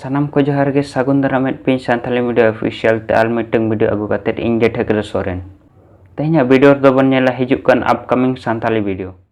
ᱥᱟᱱᱟᱢ ᱠᱚ ᱡᱚᱦᱟᱨ ᱜᱮ ᱥᱟᱹᱜᱩᱱ ᱫᱟᱨᱟᱢᱮᱫ ᱯᱤᱧ ᱥᱟᱱᱛᱟᱞᱤ ᱢᱤᱰᱤᱭᱟ ᱚᱯᱷᱤᱥᱤᱭᱟᱞ ᱛᱮ ᱟᱨ ᱢᱤᱫᱴᱟᱝ ᱵᱷᱤᱰᱤᱭᱳ ᱟᱹᱜᱩ ᱠᱟᱛᱮᱫ ᱤᱧ ᱜᱮ ᱴᱷᱟᱹᱠᱨᱟᱹ ᱥᱚᱨᱮᱱ ᱛᱮᱦᱮᱧᱟᱜ ᱵᱷᱤᱰᱤᱭᱳ ᱨᱮᱫᱚ ᱵᱚᱱ ᱧᱮᱞᱟ ᱦᱤᱡᱩᱜ ᱠᱟᱱ ᱟᱯᱠᱟᱢᱤᱝ ᱥᱟᱱᱛᱟᱞᱤ ᱵᱷᱤᱰᱤᱭᱳ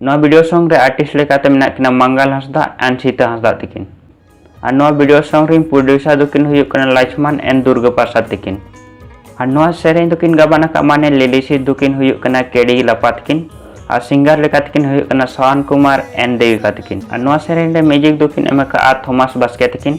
ᱱᱚᱣᱟ ᱵᱷᱤᱰᱤᱭᱳ ᱥᱚᱝ ᱨᱮ ᱟᱨᱴᱤᱥᱴ ᱞᱮᱠᱟᱛᱮ ᱢᱮᱱᱟᱜ ᱠᱤᱱᱟ ᱢᱟᱝᱜᱟᱞ ᱦᱟᱸᱥᱫᱟ ᱮᱱᱰ ᱥᱤᱛᱟ ᱦᱟᱸᱥᱫᱟ ᱛᱤᱠᱤᱱ ᱟᱨ ᱱᱚᱣᱟ ᱵᱷᱤᱰᱤᱭᱳ ᱥᱚᱝ ᱨᱮᱱ ᱯᱨᱚᱰᱭᱩᱥᱟᱨ ᱫᱚᱠᱤᱱ ᱦᱩᱭᱩᱜ ᱠᱟᱱᱟ ᱞᱟᱪᱷᱢᱟᱱ ᱮᱱᱰ ᱫᱩᱨᱜᱟ ᱯᱨᱟᱥᱟᱫ ᱛᱤᱠᱤᱱ ᱟᱨ ᱱᱚᱣᱟ ᱥᱮᱨᱮᱧ ᱫᱚᱠᱤᱱ ᱜᱟᱵᱟᱱ ᱟᱠᱟᱫ ᱢᱟᱱᱮ ᱞᱤᱞᱤᱥᱤ ᱫᱚᱠᱤᱱ ᱦᱩᱭᱩᱜ ᱠᱟᱱᱟ ᱠᱮᱰᱤ ᱞᱟᱯᱟ ᱛᱤᱠᱤᱱ ᱟᱨ ᱥᱤᱝᱜᱟᱨ ᱞᱮᱠᱟ ᱛᱤᱠᱤᱱ ᱦᱩᱭᱩᱜ ᱠᱟᱱᱟ ᱥᱟᱣᱟᱱ ᱠᱩᱢᱟᱨ ᱮᱱᱰ ᱫᱮᱣᱤᱠᱟ ᱛᱤᱠᱤᱱ ᱟᱨ ᱱᱚᱣᱟ ᱥᱮᱨᱮᱧ ᱨᱮ ᱢᱤᱭᱩᱡᱤᱠ ᱫᱚᱠᱤᱱ ᱮᱢ ᱟᱠᱟᱫᱼᱟ ᱛᱷᱚᱢᱟᱥ ᱵᱟᱥᱠᱮ ᱛᱤᱠᱤᱱ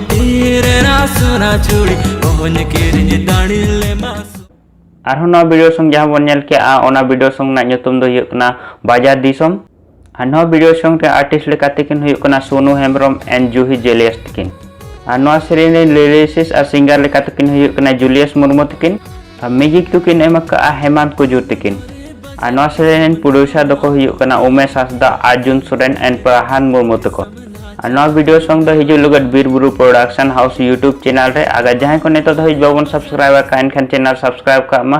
ᱟᱨᱦᱚᱸ ᱱᱚᱣᱟ ᱵᱷᱤᱰᱤᱭᱳ ᱥᱚᱝ ᱡᱟᱦᱟᱸ ᱵᱚᱱ ᱧᱮᱞ ᱠᱮᱜᱼᱟ ᱚᱱᱟ ᱵᱷᱤᱰᱤᱭᱳ ᱥᱚᱝ ᱨᱮᱱᱟᱜ ᱧᱩᱛᱩᱢ ᱫᱚ ᱦᱩᱭᱩᱜ ᱠᱟᱱᱟ ᱵᱟᱡᱟᱨ ᱫᱤᱥᱚᱢ ᱟᱨ ᱱᱚᱣᱟ ᱵᱷᱤᱰᱤᱭᱳ ᱥᱚᱝ ᱨᱮ ᱟᱨᱴᱤᱥᱴ ᱞᱮᱠᱟᱛᱮ ᱠᱤᱱ ᱦᱩᱭᱩᱜ ᱠᱟᱱᱟ ᱥᱳᱱᱩ ᱦᱮᱢᱵᱨᱚᱢ ᱮᱱᱰ ᱡᱩᱦᱤ ᱡᱮᱞᱤᱭᱟᱥ ᱛᱟᱹᱠᱤᱱ ᱟᱨ ᱱᱚᱣᱟ ᱥᱮᱨᱮᱧ ᱨᱮᱱ ᱞᱤᱨᱤᱥᱤᱥ ᱟᱨ ᱥᱤᱝᱜᱟᱨ ᱞᱮᱠᱟᱛᱮ ᱠᱤᱱ ᱦᱩᱭᱩᱜ ᱠᱟᱱᱟ ᱡᱩᱞᱤᱭᱟᱥ ᱢᱩᱨᱢᱩ ᱛᱟᱹᱠᱤᱱ ᱟᱨ ᱢᱤᱭᱩᱡᱤᱠ ᱫᱚᱠᱤᱱ ᱮᱢ ᱟᱠᱟᱫᱼᱟ ᱦᱮᱢᱟᱱᱛ ᱠᱩᱡᱩᱨ ᱛᱟᱹᱠᱤᱱ ᱟᱨ ᱱᱚᱣᱟ ᱥᱮᱨᱮᱧ ᱨᱮᱱ ᱯᱨᱚᱰᱭᱩᱥᱟᱨ ᱫᱚᱠᱚ ᱦᱩᱭᱩᱜ ᱠᱟᱱᱟ ᱩᱢᱮᱥ ᱦᱟᱸᱥᱫᱟ ᱟᱨᱡᱩᱱ ᱥᱚᱨᱮᱱ ᱮᱱᱰ ᱯᱨᱟᱦᱟᱱ ᱢᱩᱨᱢᱩ ᱛᱟᱠᱚ ᱟᱨ ᱱᱚᱣᱟ ᱵᱷᱤᱰᱤᱭᱳ ᱥᱚᱝ ᱫᱚ ᱦᱤᱡᱩᱜ ᱞᱟᱹᱜᱤᱫ ᱵᱤᱨᱵᱩᱨᱩ ᱯᱨᱚᱰᱟᱠᱥᱚᱱ ᱦᱟᱣᱩᱥ ᱭᱩᱴᱩᱵᱽ ᱪᱮᱱᱮᱞ ᱨᱮ ᱟᱜᱟᱨ ᱡᱟᱦᱟᱸᱭ ᱠᱚ ᱱᱤᱛᱚᱜ ᱫᱷᱟᱹᱵᱤᱡ ᱵᱟᱵᱚᱱ ᱥᱟᱵᱥᱠᱨᱟᱭᱤᱵ ᱟᱠᱟᱫ ᱮᱱᱠᱷᱟᱱ ᱪᱮᱱᱮᱞ ᱥᱟᱵᱥᱠᱨᱟᱭᱤᱵ ᱠᱟᱜ ᱢᱟ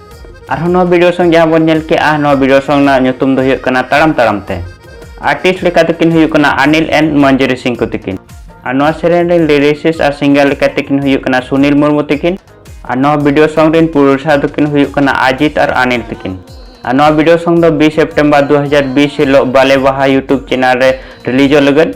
ᱟᱨᱦᱚᱸ ᱱᱚᱣᱟ ᱵᱷᱤᱰᱤᱭᱳ ᱥᱚᱝ ᱡᱟᱦᱟᱸ ᱵᱚᱱ ᱧᱮᱞ ᱠᱮᱜᱼᱟ ᱱᱚᱣᱟ ᱵᱷᱤᱰᱤᱭᱳ ᱥᱚᱝ ᱨᱮᱱᱟᱜ ᱧᱩᱛᱩᱢ ᱫᱚ ᱦᱩᱭᱩᱜ ᱠᱟᱱᱟ ᱛᱟᱲᱟᱢ ᱛᱟᱲᱟᱢ ᱛᱮ ᱟᱨᱴᱤᱥᱴ ᱞᱮᱠᱟ ᱛᱮᱠᱤᱱ ᱦᱩᱭᱩᱜ ᱠᱟᱱᱟ ᱟᱱᱤᱞ ᱮᱱ ᱢᱚᱧᱡᱩᱨᱤ ᱥᱤᱝ ᱠᱚ ᱛᱤᱠᱤᱱ ᱟᱨ ᱱᱚᱣᱟ ᱥᱮᱨᱮᱧ ᱨᱮᱱ ᱞᱤᱨᱤᱥᱤᱥ ᱟᱨ ᱥᱤᱝᱜᱟᱨ ᱞᱮᱠᱟ ᱛᱮᱠᱤᱱ ᱦᱩᱭᱩᱜ ᱠᱟᱱᱟ ᱥᱩᱱᱤᱞ ᱢᱩᱨᱢᱩ ᱛᱤᱠᱤᱱ ᱟᱨ ᱱᱚᱣᱟ ᱵᱷᱤᱰᱤᱭᱳ ᱥᱚᱝ ᱨᱮᱱ ᱯᱨᱚᱰᱭᱩᱥᱟᱨ ᱫᱚᱠᱤᱱ ᱦᱩᱭᱩᱜ ᱠᱟᱱᱟ ᱟᱡᱤᱛ ᱟᱨ ᱟᱱᱤᱞ ᱛᱤᱠᱤᱱ ᱟᱨ ᱱᱚᱣᱟ ᱵᱷᱤᱰᱤᱭᱳ ᱥᱚᱝ ᱫᱚ 20 ᱥᱮᱯᱴᱮᱢᱵᱚᱨ 2020 ᱦᱤᱞᱳᱜ ᱵᱟᱞᱮ ᱵᱟᱦᱟ ᱭᱩᱴᱩᱵᱽ ᱪᱮᱱᱮᱞ ᱨᱮ ᱨᱤᱞᱤᱡᱚᱜ ᱞᱟᱹᱜᱤᱫ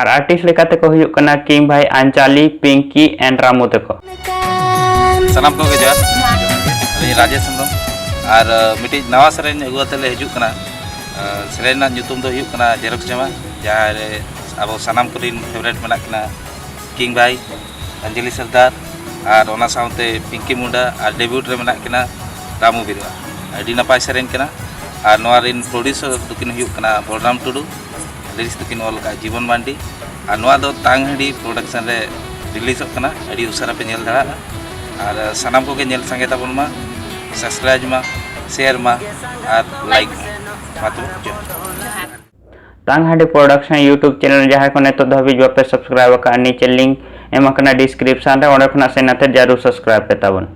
ᱟᱨ ᱟᱨᱴᱤᱥᱴ ᱞᱮᱠᱟᱛᱮ ᱠᱚ ᱦᱩᱭᱩᱜ ᱠᱟᱱᱟ ᱠᱤᱝ ᱵᱷᱟᱭ ᱟᱱᱪᱟᱞᱤ ᱯᱤᱝᱠᱤ ᱮᱱᱰ ᱨᱟᱢᱩ ᱛᱟᱠᱚ ᱥᱟᱱᱟᱢ ᱠᱚᱜᱮ ᱡᱚᱦᱟᱨ ᱟᱹᱞᱤᱧ ᱨᱟᱡᱮᱥ ᱦᱮᱢᱵᱨᱚᱢ ᱟᱨ ᱢᱤᱫᱴᱤᱡ ᱱᱟᱣᱟ ᱥᱮᱨᱮᱧ ᱟᱹᱜᱩ ᱠᱟᱛᱮ ᱞᱮ ᱦᱤᱡᱩᱜ ᱠᱟᱱᱟ ᱥᱮᱨᱮᱧ ᱨᱮᱱᱟᱜ ᱧᱩᱛᱩᱢ ᱫᱚ ᱦᱩᱭᱩᱜ ᱠᱟᱱᱟ ᱡᱮᱨᱚᱠᱥ ᱡᱟᱢᱟ ᱡᱟᱦᱟᱸ ᱨᱮ ᱟᱵᱚ ᱥᱟᱱᱟᱢ ᱠᱚᱨᱮᱱ ᱯᱷᱮᱵᱟᱨᱮᱴ ᱢᱮᱱᱟᱜ ᱠᱤᱱᱟ ᱠᱤᱝ ᱵᱷᱟᱭ ᱚᱧᱡᱚᱞᱤ ᱥᱚᱨᱫᱟᱨ ᱟᱨ ᱚᱱᱟ ᱥᱟᱶᱛᱮ ᱯᱤᱝᱠᱤ ᱢᱩᱱᱰᱟ ᱟᱨ ᱰᱮᱵᱤᱭᱩᱴ ᱨᱮ ᱢᱮᱱᱟᱜ ᱠᱤᱱᱟ ᱨᱟᱢᱩ ᱵᱤᱨᱩᱣᱟ ᱟᱹᱰᱤ ᱱᱟᱯᱟᱭ ᱥᱮᱨᱮᱧ ᱠᱟᱱᱟ ᱟᱨ ᱱᱚᱣᱟ ᱨᱮᱱ ᱯᱨᱚᱰᱭᱩᱥᱚᱨ ᱫᱚᱠᱤᱱ ᱦᱩᱭᱩᱜ ᱠᱟᱱᱟ ᱵᱚᱞᱨᱟᱢ ᱴᱩᱰᱩ ᱞᱤᱨᱤᱠᱥ ᱫᱚᱠᱤᱱ ᱚᱞ ᱟᱠᱟᱫ ᱡᱤᱵᱚᱱ ᱢᱟᱱᱰᱤ ᱟᱨ ᱱᱚᱣᱟ ᱫᱚ ᱛᱟᱝ ᱦᱟᱺᱰᱤ ᱯᱨᱚᱰᱟᱠᱥᱚᱱ ᱨᱮ ᱨᱤᱞᱤᱡᱚᱜ ᱠᱟᱱᱟ ᱟᱹᱰᱤ ᱩᱥᱟᱹᱨᱟ ᱯᱮ ᱧᱮᱞ ᱫᱟᱲᱮᱭᱟᱜᱼᱟ ᱟᱨ ᱥᱟᱱᱟᱢ ᱠᱚᱜᱮ ᱧᱮᱞ ᱥᱟᱸᱜᱮ ᱛᱟᱵᱚᱱ ᱢᱟ ᱥᱟᱵᱥᱠᱨᱟᱭᱤᱵᱽ ᱢᱟ ᱥᱮᱭᱟᱨ ᱢᱟ ᱟᱨ ᱞᱟᱭᱤᱠ ᱢᱟ ᱢᱟ ᱛᱚᱵᱮ ᱡᱚᱦᱟᱨ ᱛᱟᱝ ᱦᱟᱺᱰᱤ ᱯᱨᱚᱰᱟᱠᱥᱚᱱ ᱤᱭᱩᱴᱩᱵᱽ ᱪᱮᱱᱮᱞ ᱡᱟᱦᱟᱸᱭ ᱠᱚ ᱱᱤᱛᱚᱜ ᱫᱷᱟᱹᱵᱤᱡ ᱵᱟᱯᱮ ᱥᱟᱵᱥᱠᱨᱟᱭᱤᱵᱽ ᱟᱠᱟᱫᱼᱟ ᱱᱤᱪᱮ ᱞᱤᱝᱠ ᱮᱢ ᱟᱠᱟᱱᱟ ᱰᱤᱥᱠᱨᱤᱯᱥᱚᱱ ᱨᱮ ᱚᱸᱰᱮ ᱠᱷᱚᱱᱟᱜ ᱥᱮᱱ ᱠᱟᱛᱮ ᱡᱟᱹᱨᱩᱲ ᱥᱟᱵᱥᱠᱨᱟᱭᱤᱵᱽ ᱯᱮ ᱛᱟᱵᱚᱱ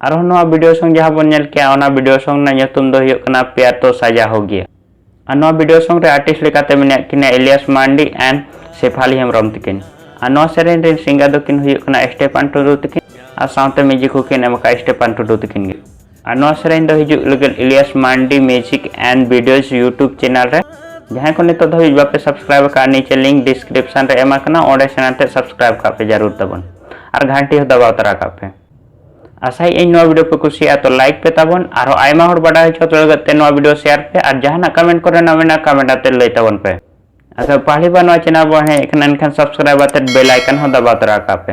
ᱟᱨᱦᱚᱸ ᱱᱚᱣᱟ ᱵᱷᱤᱰᱤᱭᱳ ᱥᱚᱝ ᱡᱟᱦᱟᱸ ᱵᱚᱱ ᱧᱮᱞ ᱠᱮᱜᱼᱟ ᱚᱱᱟ ᱵᱷᱤᱰᱤᱭᱳ ᱥᱚᱝ ᱨᱮᱱᱟᱜ ᱧᱩᱛᱩᱢ ᱫᱚ ᱦᱩᱭᱩᱜ ᱠᱟᱱᱟ ᱯᱮᱭᱟᱨ ᱛᱚ ᱥᱟᱡᱟ ᱦᱳ ᱜᱮᱭᱟ ᱟᱨ ᱱᱚᱣᱟ ᱵᱷᱤᱰᱤᱭᱳ ᱥᱚᱝ ᱨᱮ ᱟᱨᱴᱤᱥᱴ ᱞᱮᱠᱟᱛᱮ ᱢᱮᱱᱟᱜ ᱠᱤᱱᱟ ᱤᱞᱤᱭᱟᱥ ᱢᱟᱱᱰᱤ ᱮᱱᱰ ᱥᱮᱯᱷᱟᱞᱤ ᱦᱮᱢᱵᱨᱚᱢ ᱛᱤᱠᱤᱱ ᱟᱨ ᱱᱚᱣᱟ ᱥᱮᱨᱮᱧ ᱨᱮᱱ ᱥᱤᱝᱜᱟᱨ ᱫᱚᱠᱤᱱ ᱦᱩᱭᱩᱜ ᱠᱟᱱᱟ ᱥᱴᱮᱯᱟᱱ ᱴᱩᱰᱩ ᱛᱤᱠᱤᱱ ᱟᱨ ᱥᱟᱶᱛᱮ ᱢᱤᱭᱩᱡᱤᱠ ᱦᱚᱸᱠᱤᱱ ᱮᱢ ᱟᱠᱟᱫᱼᱟ ᱥᱴᱮᱯᱟᱱ ᱴᱩᱰᱩ ᱛᱤᱠᱤᱱ ᱜᱮ ᱟᱨ ᱱᱚᱣᱟ ᱥᱮᱨᱮᱧ ᱫᱚ ᱦᱤᱡᱩᱜ ᱞᱟᱹᱜᱤᱫ Elias Mandi music and videos YouTube channel ᱨᱮ ᱡᱟᱦᱟᱸᱭ ᱠᱚ ᱱᱤᱛᱚᱜ ᱫᱷᱟᱹᱵᱤᱡ ᱵᱟᱯᱮ ᱥᱟᱵᱥᱠᱨᱟᱭᱤᱵ ᱟᱠᱟᱫ ᱱᱤᱪᱮ ᱞᱤᱝᱠ ᱰᱤᱥᱠᱨᱤᱯᱥᱚᱱ ᱨᱮ ᱮᱢ ᱟᱠᱟᱱᱟ ᱚᱸᱰᱮ ᱥᱮᱬᱟ ᱛᱮ ᱥᱟᱵᱥᱠᱨᱟᱭᱤᱵ ᱠᱟᱜ ᱯᱮ ᱡᱟᱹᱨᱩᱲ ᱛᱟᱵᱚᱱ ᱟᱨ ᱜᱷᱟᱱᱴᱤ ᱦᱚᱸ ᱫᱟᱵᱟᱣ ᱛᱟᱨᱟ ᱠᱟᱜ ᱯᱮ ᱟᱥᱟᱭ ᱤᱧ ᱱᱚᱣᱟ ᱵᱷᱤᱰᱤᱭᱳ ᱯᱮ ᱠᱩᱥᱤᱭᱟᱜᱼᱟ ᱛᱚ ᱞᱟᱭᱤᱠ ᱯᱮ ᱛᱟᱵᱚᱱ ᱟᱨᱦᱚᱸ ᱟᱭᱢᱟ ᱦᱚᱲ ᱵᱟᱰᱟᱭ ᱦᱚᱪᱚ ᱠᱚ ᱞᱟᱹᱜᱤᱫ ᱛᱮ ᱱᱚᱣᱟ ᱵᱷᱤᱰᱤᱭᱳ ᱥᱮᱭᱟᱨ ᱯᱮ ᱟᱨ ᱡᱟᱦᱟᱱᱟᱜ ᱠᱚᱢᱮᱱᱴ ᱠᱚᱨᱮᱱᱟᱜ ᱢᱮᱱᱟᱜ ᱠᱚᱢᱮᱱᱴ ᱟᱛᱮ ᱞᱟᱹᱭ ᱛᱟᱵᱚᱱ ᱯᱮ ᱟᱫᱚ ᱯᱟᱦᱞᱤ ᱵᱟᱨ ᱱᱚᱣᱟ ᱪᱮᱱᱮᱞ ᱵᱚᱱ ᱦᱮᱡ ᱟᱠᱟᱱᱟ ᱮᱱᱠᱷᱟᱱ ᱥᱟᱵᱥᱠᱨᱟᱭᱤᱵ ᱟᱛᱮ ᱵᱮᱞ ᱟᱭᱠᱚᱱ ᱦᱚᱸ ᱫᱟᱵᱟᱣ ᱛᱟᱨᱟ ᱠᱟᱜ ᱯᱮ